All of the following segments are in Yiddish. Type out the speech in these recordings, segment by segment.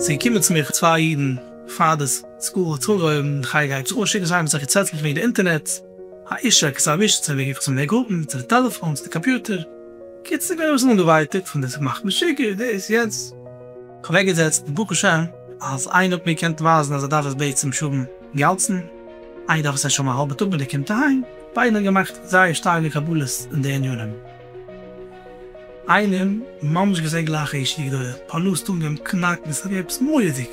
ס'איז געקומען צו מיך צוויי אידן פאר די סקול האט זיך אנגעהויבן, איך גיי גיי צו אן שיקן זיי האבן זיך געצעטלט וועגן די אינטערנעט, העישק איז א וויש צו וועגן צו מער גרופן, צו די טעלעפאן, צו די קאמפיוטער, קיצור איך בין אביסל אנגעווייטאגט פון די ס'מאכט משוגע, דאס יענץ. אוועקגעזעצט די בקשה אז איינער האט מיר געקענט ווייזן אז ער דארף עס בעת צום שרון גאלדסטין, איי דארף עס ער שוין א האלבע טאג ווען ער קומט אהיים, ביידן האבן געמאכט זייער שטארקע קבלות אין די ענינים, איינעם ממש געזען גלייך א איש וגדול, פארלאזט אן געבן קנאק וואס ער געבט מורא'דיג.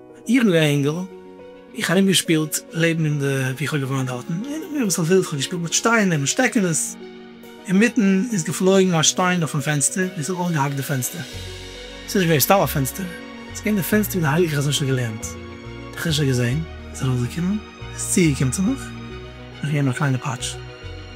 איך בין געווען א אינגל, איך ארום געשפילט לעבן אין די ווי איך האב געוואוינט דארטן, און איך בין אביסל ווילד, איך האב געשפילט מיט שטיינער מיט שטעקענעס, אינמיטן איז געפלויגן א שטיין אויפן פענסטער, און ס'האט אויסגעהאקט די פענסטער, ס'איז נישט געווען סתם א פענסטער, ס'איז געווען די פענסטער ווי די הייליגע חזון שליט א לערנט, די חשק געזען, איז ארויסגעקומען, איז צוגעקומען צו מיך, און איך געבן אים א קליינע פאטש.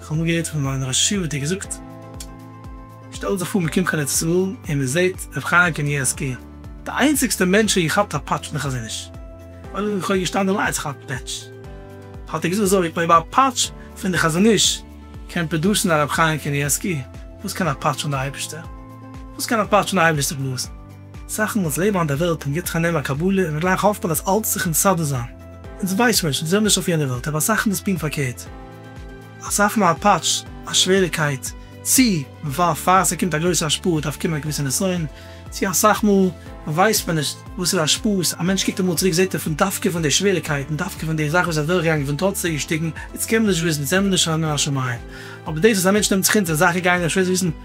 איך האב אמאל געהערט פון מיין רשי וואס האט געזאגט, שטעלט זיך פאר מען קומט קיין ארץ ישראל און מען זעהט רבי חיים קנייבסקי, די איינציגסטע מענטש וועלכע כאפט א פאטש פון די חזון-איש, ווייל איך האב געשטאנען אליינס איך כאפ פעטש, האט ער געזאגט אזוי, אויב א פאטש פון די חזון-איש קען פראדוסן א רבי חיים קנייבסקי, וואס קען א פאטש פון די אייבערשטער? וואס קען א פאטש פון די אייבערשטער פראדוסן? זאכן וואס לעבן אויף דער וועלט און גיט חנם א קבלה און גלייך האפט מען אז אלץ זיך מסדר זיין. אונז ווייסט שוין שוין זעמיר נישט אויף יענער וועלט אבער זאכן דאס פין פארקערט אז אויף מיין פאטש א שוועריקייט צי ווייל פאר ס'קומט א גרויסע השפעה דארף קומען א געוויסע נסיון צי אסאך מאל ווייסט מען נישט וואס איז השפעות א מענטש קוקט אמאל צוריק זעט ער פון דווקא פון די שוועריקייט און דווקא פון די זאך וואס ער איז אדורך געגאנגען פון טראץ די אישטיגן איז קען מען נישט וויסן זעמיר נישט חנן השמים אבער דאס אז א מענטש נעמט זיך אונטער זאכן גייען אים שווער וויסן